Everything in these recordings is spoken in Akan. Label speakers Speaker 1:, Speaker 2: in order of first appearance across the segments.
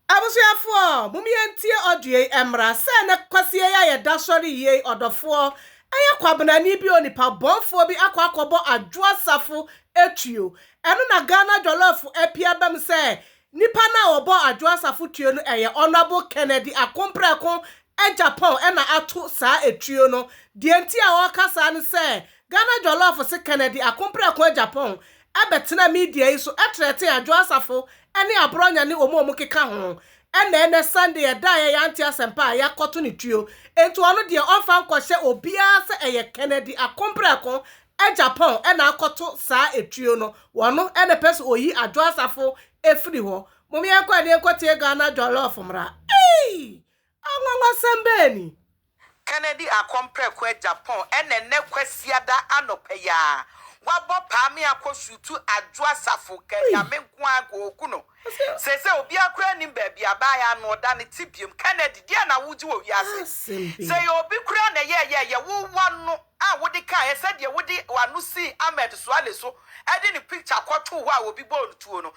Speaker 1: Abusuafoɔ, mom yɛntie audio yi mmra, sɛ na Kwasie yi a yɛda sɔre yie yi ɔdɔfoɔ ɛyɛ kwabenani bi onipa bɔnfoɔ bi akɔ akɔbɔ Adwoa Safo tuo, ɛno na Ghana Jollof apue abam sɛ nipa no a ɔbɔɔ Adwoa Safo tuo no ɛyɛ Honourable Kennedy Akomprɛko Agyapong na ato saa tuo no, deɛ nti a ɔreka saa ne sɛ Ghana Jollof se Kennedy Akomprɛko Agyapong bɛtenaa media yi so trɛtee Adwo Asafo ne Aborɔnya ne wɔn a wɔkeka ho. Ɛnna ɛnnɛ Sunday a ɛda a yɛyɛ ante asɛmpa a yɛakɔto no tuo. Enti ɔno deɛ ɔmfa nkɔhyɛ obiara sɛ ɛyɛ Kennedy Akomprɛko Agyapong na akɔto saa etuo no. Ɔno na ɛpɛ sɛ ɔyi Adwo Asafo firi hɔ. Mom yɛnkɔ ɛne yɛnkɔtie Ghana Jollof mmra. Eii! Anwanwasɛm bɛn ni? Kennedy
Speaker 2: Akɔmprɛko Agyapong na ɛnnɛ Kwasiada anɔpa yi ara wabɔ paa me akɔ Sutu Adwo Asafo Ka Nyame nko ara nko oku no Seesei obiara koraa nnim baabi a baa yɛ ano ɔda ne te biom Kennedy deɛn na wogye wɔ wiase sɛ yɛ obi koraa na ɛyɛɛ yɛ yɛ wo wa no a wode kaeɛ sɛ deɛ wode w'ano sii Ahmed Suale so de ne picture kɔtoo hɔ a obi bɔɔ no tuo no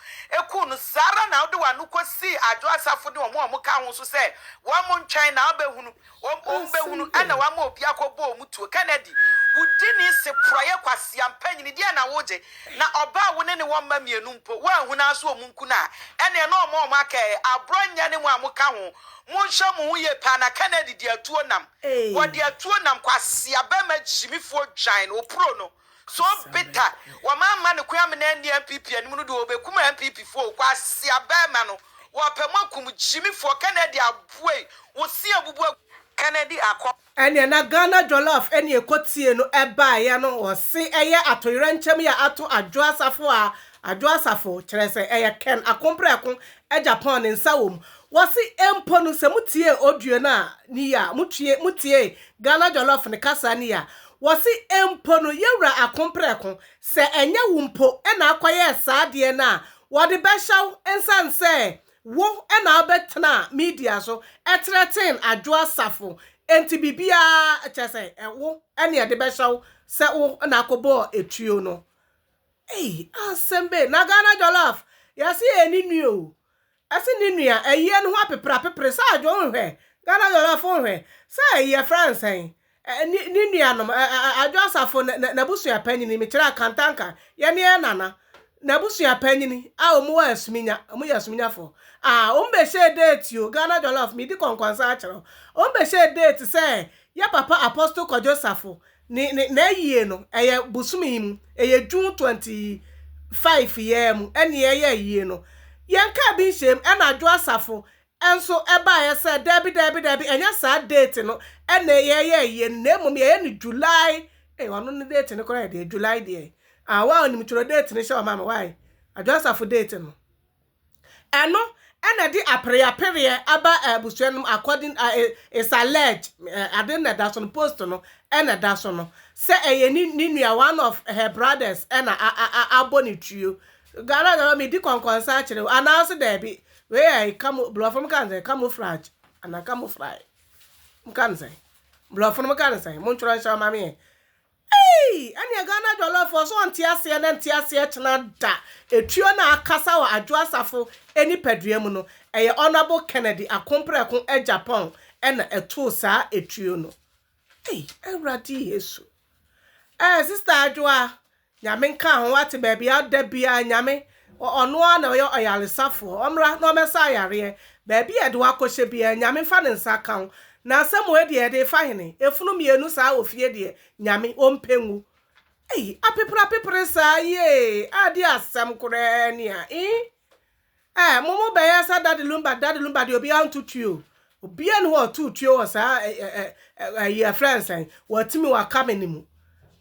Speaker 2: kuu no, saa ara na wode w'ano kɔsii Adwo Asafo ne wɔn a wɔka ho nso sɛ wɔn ntwɛn na wɔbɛhunu, wɔn bɛhunu na wɔama obi akɔbɔ wɔn tuo. Kennedy, wo dini se porɔeɛ kwasea mpanyini, deɛn na wogye? Na ɔbaa a wo ne ne wɔ mma mmienu mpo, woanhunu ara sɛ wɔn nku no a, ɛnneɛ na wɔma wɔn aka ɛ. Aborɔnyɛ ne mo a moka ho, monhwɛ mo ho yie paa na Kennedy de atuo nam. Wɔde atuo nam kwasea bɛma gyimifoɔ dwan no opuro no so beta wɔn ama no kwan amena anni NPP anim no deɛ ɔbɛkum NPP foɔ o kwasea bɛma no wɔpɛ mo akum gyimifoɔ Kennedy aboei wo se abubu agu Kennedy akɔ. Ɛneɛ na
Speaker 1: Ghana jollof ɛne ɛkɔ tie no ɛbaeɛ no wɔse ɛyɛ atoyerɛnkyɛm yɛ ato Adwoa Safo a Adwoa Safo kyerɛ sɛ ɛyɛ Ken Akomprɛko Agya Pɔn ne nsa wɔ mu. Wɔse mpo no sɛ motie audio no a ne yie a, motue motie Ghana Jollof no kasa no yie a, wɔse mpo no Yawura Akomprɛko, sɛ ɛnyɛ wo mpo na akɔyɛɛ saa adeɛ no a, wɔde bɛhyɛ wo ɛnsan sɛ wo na wobɛtenaa media so ɛtreaten Adwo Asafo nti biribiara kyerɛ sɛ wo ne yɛde bɛhyɛ wo sɛ wo na akɔbɔɔ etuo no. Ei asɛm bɛn na Ghana jollof yɛse yɛ ne nua o ɛse ne nua ɛyɛ no ho apeprapepre sɛ adwo nhwɛ Ghana jollof nhwɛ sɛ yɛ frɛ no sɛn ne nuanom adwo asafo nabusua panyini mekyerɛ akantanka yɛ ne yɛ nana nabusua panyini a wɔn wɔ asuminya wɔn yɛ asuminyafo a wɔn bɛhyɛ date o Ghana jollof medi kɔnkɔnsa akyerɛ wɔn bɛhyɛ date sɛ yɛ papa apostle kɔdwo safo Ne ne n'ayie no ɛyɛ bosome yi mu ɛyɛ June twenty five yɛɛ mu ɛne ɛyɛ ayie no yɛn kaa bi nhyɛm ɛna adwo asafo ɛnso ɛbaeɛ sɛ daabi daabi daabi ɛnyɛ saa date no ɛna yɛyɛ ayie no na mmom yɛyɛ no July ɛyɛ ɔno ne date no koraa deɛ July deɛ ah waa onim twerɛ date no hyɛ ɔma me wae adwo asafo date no. Ɛno na ɛde apereapereɛ aba abusua no mu according uh, is alleged uh, ade na ɛda so no post no na ɛda so no sɛ ɛyɛ ne ne nua one of her brothers na abɔ ne tuo gara gara medi kɔnkɔnsa akyerɛ anaase daabi wei yɛ kamo borɔfo no ka no sɛ camouflage anaa camouflage mo ka no sɛ borɔfo no mo ka no sɛ montwerɛ nhyɛ ɔma me yɛ Eii ɛneɛ Ghana jollof ɔsɛ ɔnte aseɛ na nte aseɛ kyena da etuo na akasa wɔ Adwo Asafo nipadua mu no ɛyɛ Honourable Kennedy Akomprɛko Agyapong na ɛtoo saa etuo no ei Awurade Yesu eh sister Adwoa Nyame nka ho wate baabi a ɔda biaa Nyame Ɔno ara na ɔyɛ ɔyaresafoɔ. Ɔmmra na ɔmmɛsa ayareɛ. Baabi a yɛde wo akɔhyɛ biara, Nyame mfa ne nsa ka wo. Na asɛm wei deɛ, yɛde refa hene? Efunu mmienu saa wɔ fie deɛ, Nyame ɔmpɛ ngu. Ei, apepreapepre saa yi ee, ade a asɛm koraa ni a, ii. Ɛɛ, mo mo bɛyɛ sɛ Daddy Lumba, Daddy Lumba deɛ obiara nto tuo. Obiaa nni hɔ a ɔtoo tuo wɔ saa ɛyi yɛfrɛ no sɛn watumi waka me no mu.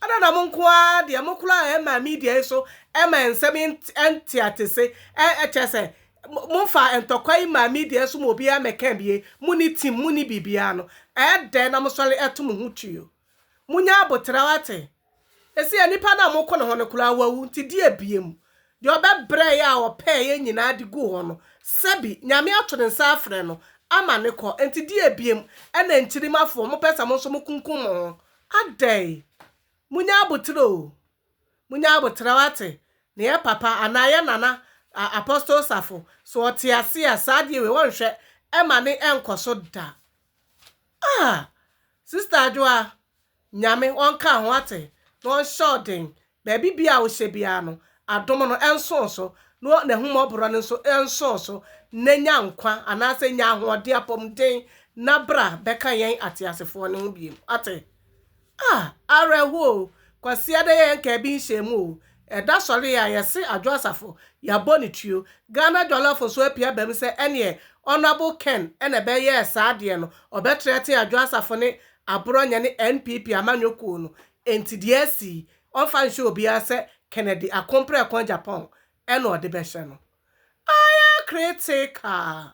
Speaker 1: Adɛn na mo nko ara deɛ mo koraa a ɛma media yi so ɛma nsɛm yi nteatese ɛkyɛ sɛ momfa ntɔkwa yi ma media so ma obiara mmɛka bie, monni team, monni biribiara no ɛyɛ dɛn na mosɔre ɛto mo ho tuo? Munya aboterɛw ate. Seesei nipa no a moko ne ho no koraa wawu, nti di abiem. Deɛ ɔbɛbrɛe a ɔpɛeɛ nyinaa de guu hɔ no, sɛbi, Nyame ato ne nsa afrɛ no, ama no kɔ. Nti di abiem, ɛna nkyirimmafoɔ, mopɛ sɛ mo nso mokunkum mo ho adɛn? Munya aboterɛ o! Munya aboterɛw ate ne yɛ papa anaa yɛ nana a Apostle Safo so ɔte ase a saa adeɛ wei wɔnhwɛ ɛma ne ɛnkɔ so da ah sister adwoa Nyame ɔnka ho ate na ɔnhyɛ wo den baabi bia a wohyɛ biara no adom no ɛnsoo so na n'ahumɔborɔ no nso ɛnsoo so na nya nkwa anaasɛ nya ahoɔden apɔmuden na bra bɛka yɛn ateasefoɔ no ho biom ate Ah! Awerɛho o! Kwasia dɛ yɛn nkaa bi nhyɛɛ mu o! Ɛda sɔre yɛ a yɛse Adwo Asafo, yɛabɔ ne tuo. Ghana Jɔlɔfo nso apia ba mu sɛ ɛneɛ Honourable Ken na ɛbɛyɛɛ saa adeɛ no, ɔbɛteatea Adwo Asafo ne Aborɔnyɛ ne NPP amanyɔkuo no. Enti deɛ asi yi, ɔmfa nhyɛ obiara sɛ Kennedy Akomprɛko Agyapong na ɔde bɛhyɛ no. Ayɛ critical!